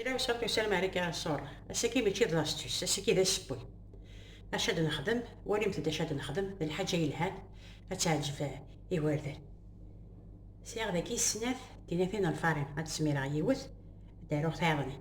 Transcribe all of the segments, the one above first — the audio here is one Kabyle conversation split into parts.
Mira wesɛa tussal Marika Ansur. Ass-agi mačči d lastus, ass-agi d asewwi. Acu ad nexdem? Walimt-d acu ad nexdem d lḥaǧa yelhan, ad teɛǧeb igerdan. Sɛiɣ dagi snat tinatin n lfarin, ad d-smireɣ yiwet, ad d-aruɣ tayeḍnit.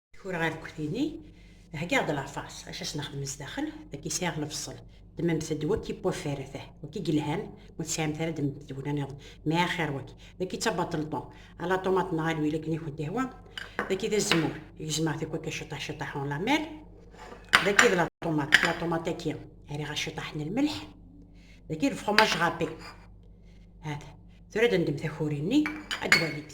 Kur ɣer kkutini, heggaɣ-d lafaṣ, acu as nexdem zdaxel, dagi sɛiɣ lefṣel, ddmemt-d waki n waffar ata, waki yelhan, ma ur tesɛimt ara ddmemt-d tugna niḍen, mɛa axir waki, dagi d tabaṭelṭu, ala ṭumaṭ neɣ alwil akken i kent-ihwa, dagi d azemmur, gezmeɣ tikwakka ciṭaḥ ciṭaḥ en la mer, dagi d la ṭumaṭ, la ṭumaṭ-agi rriɣ-as ciṭaḥ n lmelḥ, dagi d lefromaj râpé, hata, tura ad nendem takuri-nni, ad twalimt.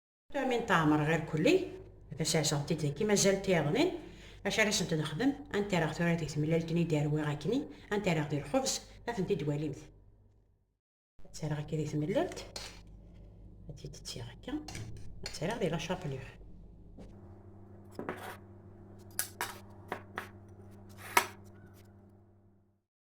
Tamin teɛmer ɣer kulli, taserseɣti d-agi mazal tiyaḍnin, acu ara sent-nexdem, anta ara ɣ-tura deg temlalt-nni d-arwiɣ akni, anta ara ɣ-d lxubz, ad tent-id-walimt. Ad tt-araɣ akka di temlalt, ad tt-id-ttiɣ akka, ad tt-araɣ di lacaplix.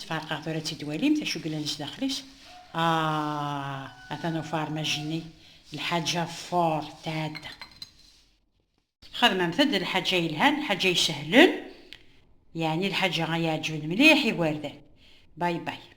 Tfeṛqeɣ tura tt-id-walimt acu yellan sdaxel-is? Aah! Atan ufarmaj-nni, lḥaǧa Ford tɛedda. Xedmemt-d lḥaǧa yelhan, lḥaǧa isehlen, yeɛni lḥaǧa ay iɛeǧǧben mliḥ igerdan. Bye bye.